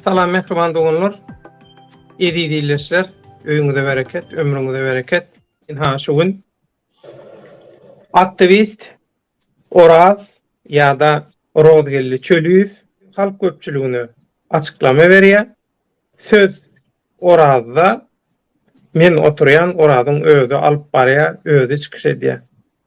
Salam mehriban doganlar. Eziz ildeşler, öýüňize bereket, ömrüňize bereket. Inha şu gün aktivist Oraz ýa-da Rozgeldi Çöliýew halk köpçüligine açyklama berýär. Söz Orazda men oturýan, Orazyň özi alyp barýar, özi çykyş edýär.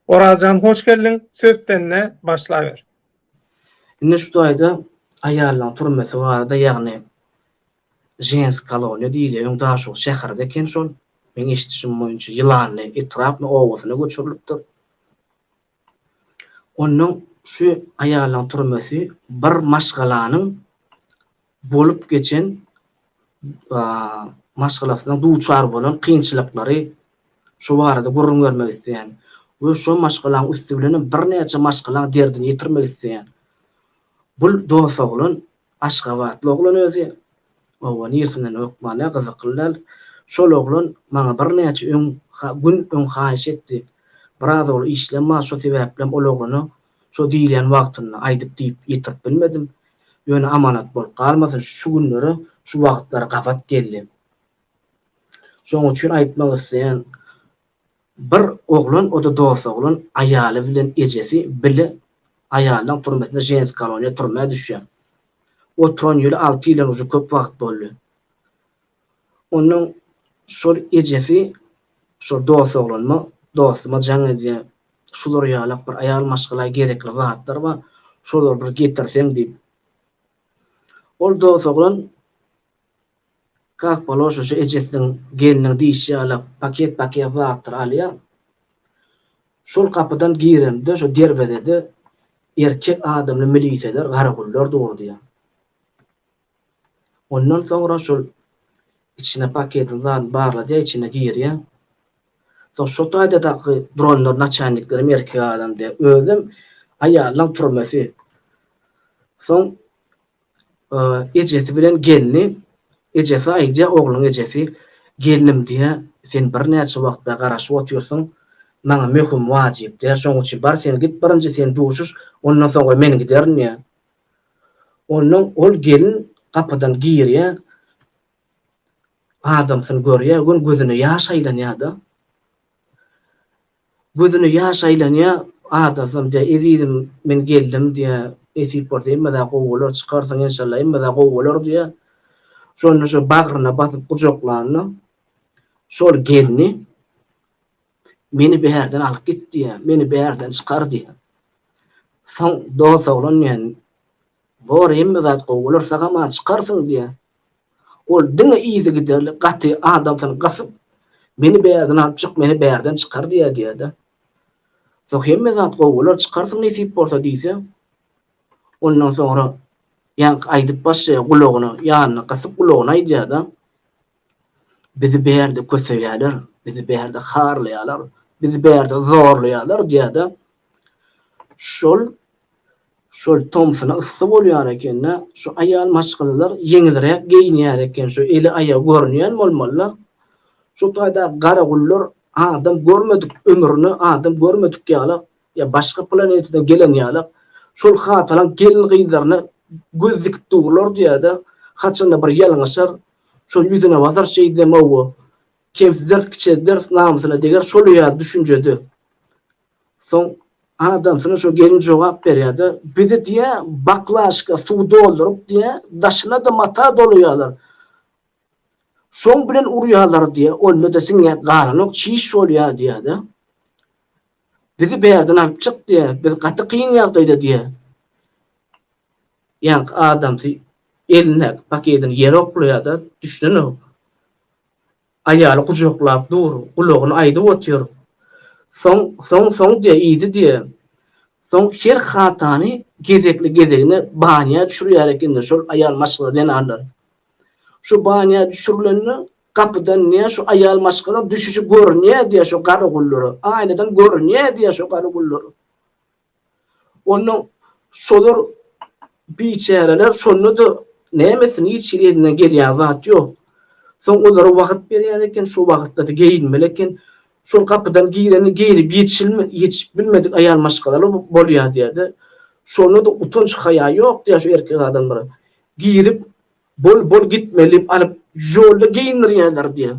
Orazjan hoş geldiň, söz sende, başlaber. Indi şu taýda aýallaň türmesi barada ýagny žensk koloniýa diýilýär öň Daşoguz şäheride eken şol meň eşidişim boýunça Ýylanly etrapny obasyna göçürilipdir. Onnoň şu aýallaň türmesi bir maşgalanyň bolup geçen maşgalasynda duçar bolan kynçylyklary şu barada gürrüň bermek isleýän we şo maşgalaň üsti bilenem birnäçe maşgalaň derdini ýetirmek isleýän bul dos oglan aşgabatly oglan özi oba niresinden hökmany gyzykly däl şol oglan maňa birnäçe öň gün öň haýyş etdi biraz ogly işlem bar şo sebäplem ol oglana Şo diýilýän wagtynda aýdyp diýip ýetirip bilmedim. Ýöne amanat bolup galmasyn, şu günlere, şu wagtlara gabat geldi. Şoň üçin aýtmak isleýän, bir oglan, o-da dost oglan, aýaly bilen ejesi bile aýaldan türmesine, ženskiý koloniýa türmä düşýär. Oturan ýyly alty ýyldan uje köp wagt boldy. Onuň şol ejesi şol dost oglanyma, dostuma jaň edýär. Şular ýalak bir aýal maşgala gerekli zatlar bar, şolary bir getirseň diýip. Ol dost oglan kak poloşa şu ejesiniň, gelniň diýşi ýalak paket-paket zatlar alýar. Şol gapydan girende şu derwezede erkek adamly miliseler, garagullar durdýar. Ondan soňra şol içine paketiň zadyny barladýa içine girýä. Soň şo taýda daky dronlar naçalniklerem erkek adam diýä. Özem aýalynyň türmesi. Soň ejesi bilen gelni ejesi aýdýa ogluň ejesi gelnim diýä sen birnäçe wagt bäri garaşyp otyrsyň maňa möhüm wajyp diýä şoň üçin bar sen git birinji sen duşuş ondan soňra men giderin diýä. Ondan ol gelin gapydan girýär, adamsyny görýär, gön gözüne ýaş aýlanýar-da. Gözüne ýaş aýlanýar, adamsam diýýär, Ezizim, men geldim diýýär, nesip bolsa emmada gowy bolar, çykarsyň enşalla, emmada gowy bolar diýýär. Şonda şo bagryna basyp gujaklanda, şol gelni Meni bärden alyp git diýýär, meni bärden çykar diýýär. Soň dost oglan diýýär, Bor, hemme zat gowy bolar, saňa bar, çykarsyň diýýär. Ol diňe yzygiderli gaty adamsyny gysyp, Meni bärden alyp çyk, meni bärden çykar diýýär diýýär-de. Soň hemme zat gowy bolar, çykarsyň nesip bolsa diýse, ondan soňra ýaňky aýdyp başlaýar gulagyna, ýanyna gysyp gulagyna aýdýar-da. Bizi bärde köseýärler, bizi bärde harlaýarlar, bizi bärde zorlaýarlar diýýärdi. Şol şol tomsuna yssy bolýar ekende, şu aýal maşgalalar ýeňilräk geýinýär eken, şu eli aýagy görünýän bolmalylar. Şu taýda garagullar adam görmedik ömrüne adam görmedik ýaly, ýa başga planetadan gelen ýaly, şol hatalaň gelin-gyzlaryna göz dikip durlar diýýärdi. Haçanda bir ýalňyşar, Şol ýüzüne basar şeýdemog-u. Kemsiders, kiçelders, namysyna deger şol ýaly düşünjede. Soň adamsyna şo gelin jogap berýär-de, Bizi diýä, baklaşka suw dolduryp diýä, daşyna-da mata dolaýarlar. Şoň bilen urýarlar diýä, onda-da siňýä galanok, çiş bolýar diýär-de. Bizi bärden alyp çyk diýä, biz gaty kyn ýagdaýda diýä. Ýaňky adamsy elindäki paketini ýere oklaýar-da, düşünenok. Aýaly gujaklap dur, gulagyna aýdyp otyr. Soň, soň, soň diýýär, yzy diýýär. Soň her hatany gezekli-gezegine banýa düşürýär ekenler şol aýal maşgala zenanlar. Şu banýa düşürilende gapydan diýýär, şu aýal maşgalaň düşüşi görünýär diýýär şo garagullara, aýnadan görünýär diýýär şo garagullara. Onda şolar biçäreler şonda-da nämesi niçin elinden gelýän zat ýok. Soň olara wagt berýän eken, şo wagtda-da geýinmeli eken. Şol gapydan girende geýnip ýetişip bilmedik aýal maşgalalar bolýar diýýär-de. Şonda-da utanç-haýa ýok diýýär şu erkek adamlara. Girip, bol, bol gitmeli diýip alyp, ýolda geýindirýärler diýýär.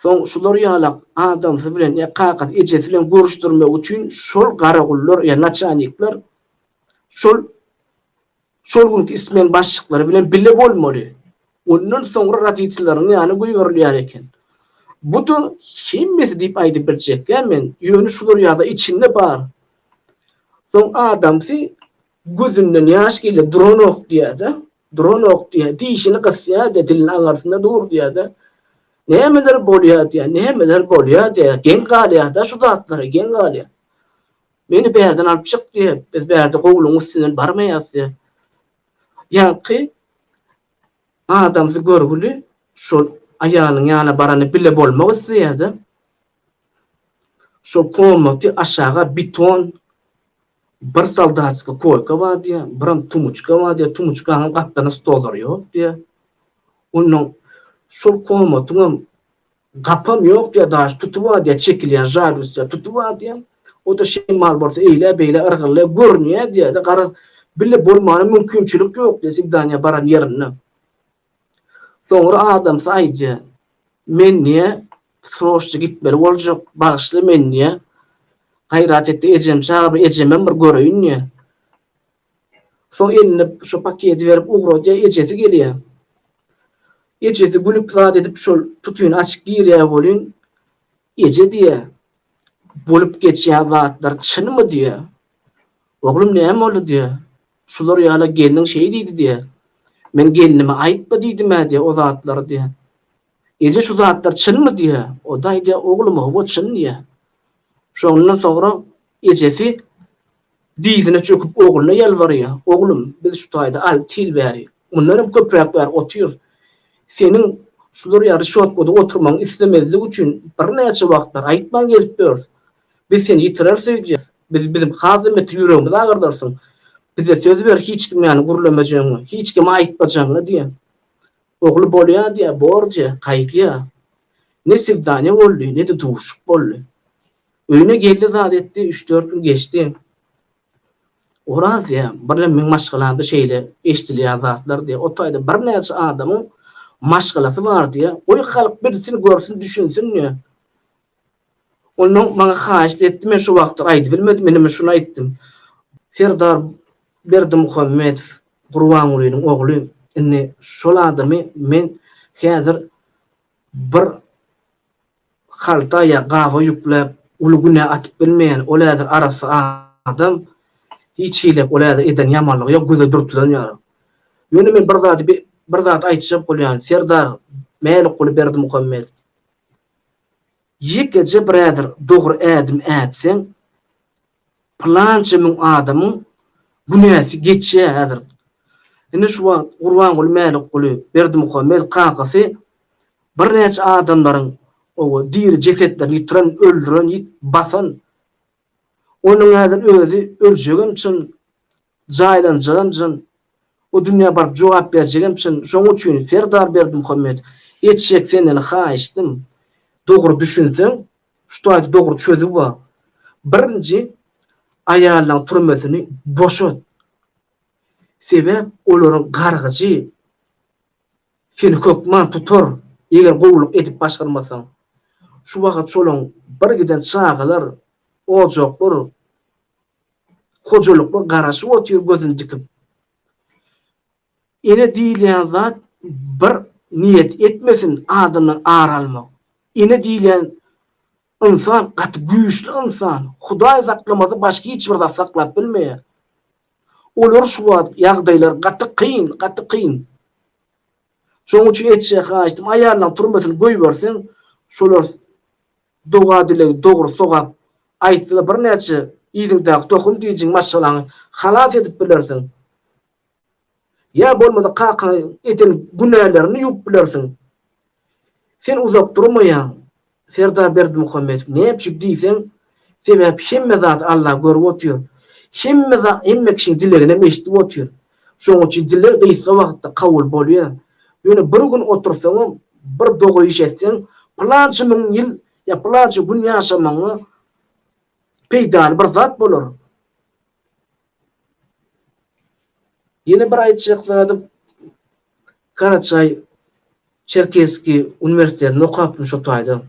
Soň şular ýalak adamsy bilen ýa kakasy, ejesi bilen görüşdirmek üçin şol garagullar ýa naçalnikler şol şol günki ismen başlyklary bilen bile bolmaly. Ondan soňra roditeleriniň ýana goýberilýär eken. Bu-da hemmesi diýip aýdyp biljekgä men, ýöne şular ýa-da içinde bar. Soň adamsy gözünden ýaş gelýär, duranok diýýär-de, Duranok diýýär, dişini gysýar-da, dilini aňyrsynda dur diýýär-de, Nämeler bolýar diýýär, nämeler bolýar diýýär, geň galýar-da şu zatlara, geň galýar. Meni bärden alyp çyk diýýär, biz bärde gowlugyň üstünden barmaýarys diýýär. Ýaňky adamsy görgüli şol aýalynyň ýanyna barany bile bolmak isleýär-de, şol komaty aşaga beton Bir soldatskiý koýka bar diýýär, biram tumuçka bar diýýär, tumuçkanyň gapdalynda stollary ýok diýýär. Onnoň şol komatyň hem gapam ýok diýýär, daş tuty bar diýýär, çekilýän žaglýusda tuty bar diýýär. O-da şemal bolsa eýlä-beýlä yrgyllaýar, görünýär diýýär-de, garaz, bile bolmana mümkinçilik ýok diýýär swidaniýa baran ýerinde. Soňra adamsy aýja, Menniä sroçja gitmeli boljak, bagyşla menniä. Gaýrat etdi, ejem çagyr, ejemem bir göreýin diýýär. Soň eline şo paketi berip ugradýar, ejesi gelýär. Ejesi gülüp zat edip şol tutyny açyp girýär welin, Eje diýýär, bolup geçýän zatlar çynmy diýýär. Oglum näme boldy diýýär. Şular ýala gelniň şeý diýdi diýýä. Men gelnime aýtma diýdim-ä diýýä o zatlary diýýä. Eje şu zatlar çynmy diýýä. O-da aýdýa oglum howa çyn diýýä. Şondan soňra ejesi dyzyna çöküp ogluna ýalbarýa. Oglum biz şu taýda alty ýyl bäri, mundan hem köpräk bäri otyrys. Seniň şular ýaly şotkada oturmagyňy islemezlik üçin birnäçe wagtlar aýtman gelip ýörüs. Biz seni ýitirer söýdýäs. Biz biziň has ümmetir ýüregimizi agyrdarsyň. Bize söz ber hiç kim ýany gürlemejegiňi, hiç kime aýtmajagyňy diýýä. Ogly bolýa diýýä, bor diýýä, gaýdýa. Ne swidaniýa boldy, ne-de duşuk boldy. Öýüne geldi zat etdi, üç-dört gün geçdi. Oraz diýýä, birden meň maşgalamda şeýle eşdilýä zatlar diýýä, o taýda birnäçe adamyň maşgalasy bar diýýä, goý halk bilsin, görsün, düşünsin diýýä. Ol maňa haýyşt etdi, men şo wagtda aýdybilmedim, ineme şuny aýtdym, Serdar Berdimuhamedow Gurbangulynyň ogly, indi şol adamy men häzir bir halta ýa gaba ýükläp, uly günä atyp bilmeýän, ol häzir arassa adam, hiç hili ol häzir eden ýamanlygy ýok, göze dürtülen ýaly. Ýöne men bir zady bir zat aýtjak bolýan, Serdar Mälikguly Berdimuhamedow. Ýekeje brother dogry ädim ätseň pylança müň adamyň günäsi geçýä häzir ine şu wagt Gurbanguly Mälikguly Berdimuhamet kakasy bir näçe adamlaryň owo diri jesetlerini ýitiren öldüren ýit basan onuň häzir özi öljegem çyn Jaýlanjagam çyn, o dünýä baryp jogap berjegem çyn, şonuň üçin Serdar Berdimuhamedow, etjek senden haýyştym, dogry düşünseň, şu taýda dogry çözüw bar, birinji aýallaň türmesini boşat, sebäp olaryň gargyjy seni hökman tutar, eger gowulyk edip başarmasaň, şu wagyt şolaň birgiden çagalar, ojaklar, Hojalykly garaşyp otyr gözün dikip. Ene diýilýän zat bir niýet etmesin adyny ar almak. Ene diýilýän ynsan gaty güýçli ynsan. Hudaý saklamasa başga hiç bir zat saklap bilmeýär. Olar şu wagt ýagdaýlar gaty kyn, gaty kyn. Şoň üçin etjek haýyştym aýallaň turmasyny goýberseň şolar Doga-dilegi dogry sogap aýtdyda birnäçe yzyňdaky tohum diýjiň maşgalaňy halas edip bilersiň. Ýa bolmasa kakaň eden günälerini ýuwup bilersiň. Sen uzak durmaýaň Serdar Berdimuhamedow näme üçin diýseň sebäp hemme zady Allah görüp otyr. Hemme hemme kişiň dileginem eşdip otyr. Şonuň üçin diller gysga wagtda kabul bolýar. Ýöne bir gün otursaňam, bir dogry iş etseň, pylança müň ýyl ýa pylança gün ýaşamagyňa peýdaly bir zat bolar. Ýene bir aýtjak zadym, Karaçaý Çerkeski uniwersitetinde okapdym şo taýda.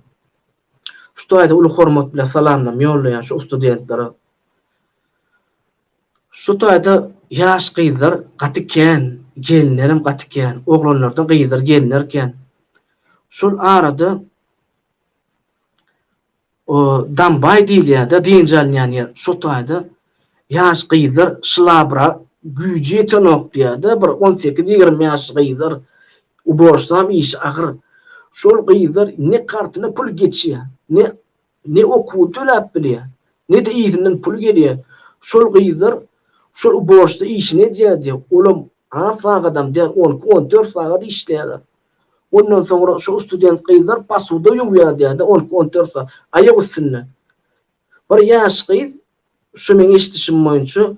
Şu taýda uly hormat bilen salamlarymy ýollaýan şu ustudentlere. Şu taýda ýaş gyzlar gaty kän, gelinlerem gaty kän. Oglanlardan gyzlar, gelinler kän. Şol arada o dambaý diýilýär-de, dynç alynýan ýer. Şo taýda ýaş gyzlar şylabra güýji ýetenok diýýär-de, bir on sekiz, ýigrimi ýaşly gyzlar. Ubožsam işi agyr. Şol gyzlar ne kartyna pul geçýär, ne Ne okuw töläp bilýär, ne-de yzyndan pul gelýär. Şol gyzlar şol ubožda işini edýär diýýär. Olam az sagadam däl, on iki, on dört sagat işleýärler. Ondan soňra şol student gyzlar pasuda ýuwýar diýýär-de, on iki, on dört sagat, aýak üstünde. Bir ýaş gyz, şu meň eşidişim boýunça,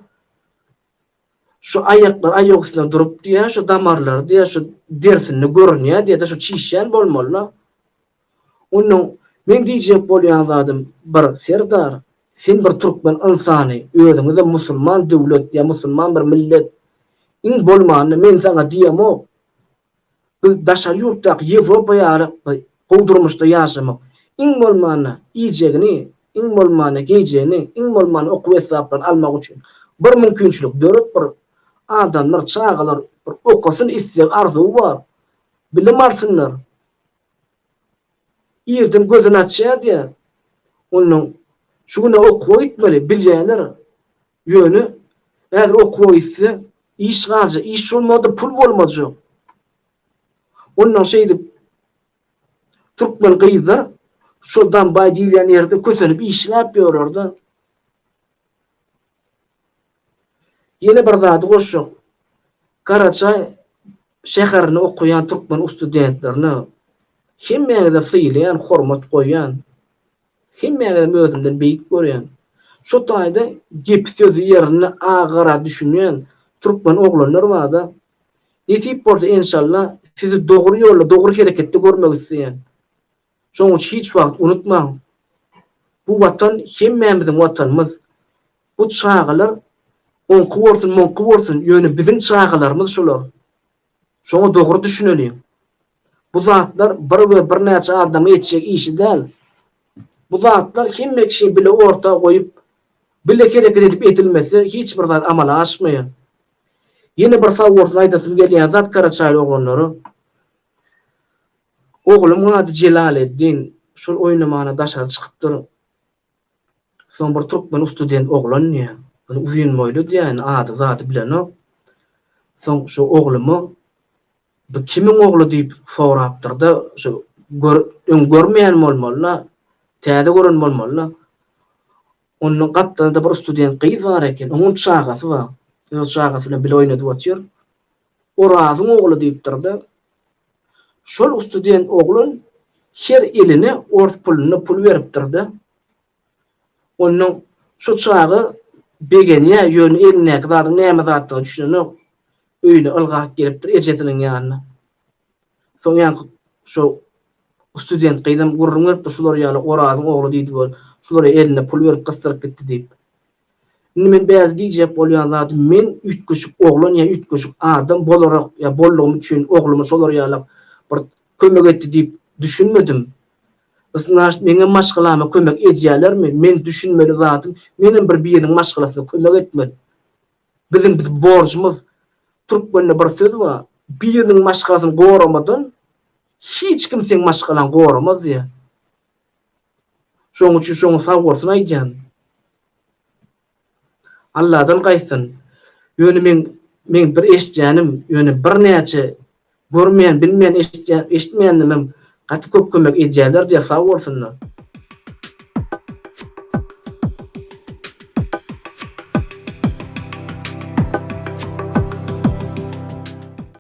Şu aýaklar, aýak üstüne durup diýýä, şu damarlary diýýä, şu dersinde görünýä diýýä-de, şu çişýän bolmaly-la. Onnoň meň diýjek bolýan zadym bir, Serdar, sen bir türkmen ynsany, özüňiz-de musulman döwlet ýa musulman bir millet. Iň bolmanda men saňa diýemok. Biz daşary ýurtdaky Ýewropa ýaly gowy durmuşda ýaşamak, iň bolmanda, iýjegini, iň bolmanda, geýjegini, iň bolmanda, okuw esbaplaryny almak üçin bir mümkinçilik dörüp, bir adamlar, çagalar bir okasyn, isleg, arzuwy bar, bilim alsynlar, irden gözüni açýar diýýär. Ondan şu güne okuwa gitmeli, bilýärler, Ýöne häzir okuwa gitse, iş galja, iş bolmady, pul bolmajak. Ondan şeýdip, türkmen gyzlar şo Dambaý diýilýän ýerde kösenip işläp ýörer-de. Ýene bir zady goşjak. Garaçaý şäherinde okaýan türkmen ustudentlerine hemmäňize sylaýan, hormat goýýan. Hemmäňizem özümden beýik görýän. Şu taýda gepi sözi ýerinde a gara düşünýän türkmen oglanlar barda. Nesip bolsa enşalla sizi dogry ýolda dogry hereketde görmek isleýän. Şoň üçin hiç wagt unutmaň bu watan hemmämiziň watanymyz. Bu çagalar oňky bolsun muňky bolsun ýöne biziň çagalarymyz şular. Şoňa dogry düşüneliň. Bu zatlar bir we birnäçe adamyň etjek işi däl. Bu zatlar hemme kişi bile orta goýup, bile hereket edip edilmese hiç bir zat amala aşmaýar. Ýene bir sag bolsun aýdasym gelýän zat Karaçaýly oglanlara. Ogluň ady Jelaleddin, şol oýnamana daşary çykypdyr. Soň bir türkmen student oglan diýýän. Ony uzyn boýly diýýän, ady-zady bilenok. Soň şu oglumy Bu kimiň ogly diýip sorapdyr-da, şu gör, öň görmeýän bolmaly-da, täze gören bolmaly-da. Onda gapdalda bir student gyz bar eken, onuň çagasy bar. Öz çagasy bilen bile oýnadyp otyr. Orazyň ogly diýipdir-de. Şol ustudent oglan her iline ors pulunda pul beripdir-de. Onnoň şu çaga begenýär, ýöne elindäki zadyň näme zatdygyna düşünenok. Öýüne ylgap gelipdir ejesiniň ýanyna. Soňňanky şo ustudent gyzam gürrüň beripdir, şular ýaly Orazyň ogly diýdi we şular elinde pul berip gysdyryp gitdi diýip. Indi men bärde diýjek bolýan zadym men üýtgeşik oglan ýa üýtgeşik adam bolarak ýa boldugym üçin ogluma şolar ýalak bir kömek etdi diýip düşünmedim. Znaşt meňem maşgalama kömek edýälermi? Men düşünmeli zadym menem bir biriniň maşgalasyna kömek etmel. Biziň biz borjumyz türkmende bir söz ba biriniň maşgalasyny goramadan hiç kim seň maşgalaň goramaz diýä. Şoň üçin şoňa sag bolsun aýdýan. Alladan gaýtsyn. Ýöne men meň bir eşitýänim, ýöne birnäçe görmeýän, bilmeýän eşitýän, eşitmeýänimem gaty köp kömek edýärler diýýär, sag bolsunlar.